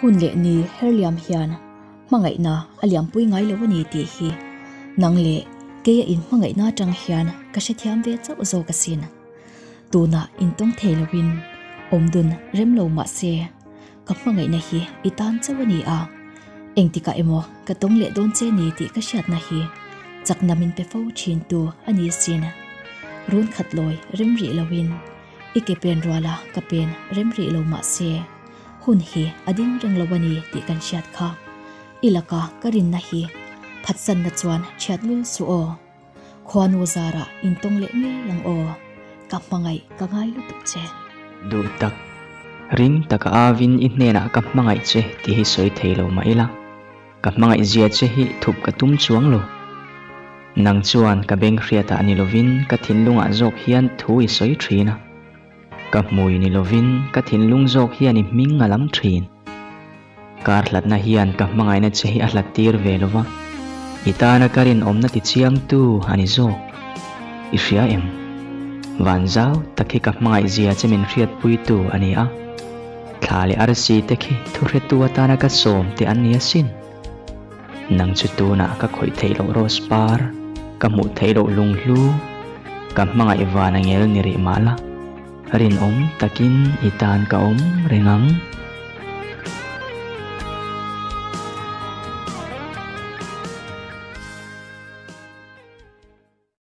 Hun leh ni herliam hian hmangaihna a lianpui ngai lo a ni tih hi nang leh keia in hmangaihna atang hian ka hrethiam ve chauh zawk a sin. Tuna in tawng thei lovin awmdun rem lo mahse ka hmangaihna hi i tan chauh a ni a, engtikah emaw ka tawng leh dawn che ni tih ka hriatna hi chakna min pe fo thin tu a ni sin. Run khatlawi rem rih lovin. I ke pen rual a, ka pen rem rih lo mah se, hun hi a ding reng lo a ni tih kan hriat kha. I laka ka rinna hi phatsanna chuan thiat lul suh aw. Khuanu zara in tawng leh ngei ang aw. Ka hmangaih ka ngai lutuk che. Duh tak. Ring taka avin i hnenah ka hmangaih che tih hi sawi thei lo mah ila. Ka hmangaih zia che hi thup ka tum chuang lo. Nang chuan ka beng hriatah ni lovin ka thinlungah zawk hian thu i sawi thin a. Ka hmui ni lovin ka thinlung zawk hian i hming a lam thin. Kar hlatna hian ka hmangaihna che hi a hlat tir ve lo va, i tana ka rinawmna tichiangtu a ni zawk. I hria em? Van zau tak hi ka hmangaih zia che min hriatpuitu a ni a. Thla leh arsi te khi thuhretu atana ka sawm teh an ni asin. Nang chu tunah ka khawih theih loh Rose par, ka hmuh theih loh Lunghlu, ka hmangaih vana ngel ni rih mah la, rinawm takin i tan ka awm reng ang.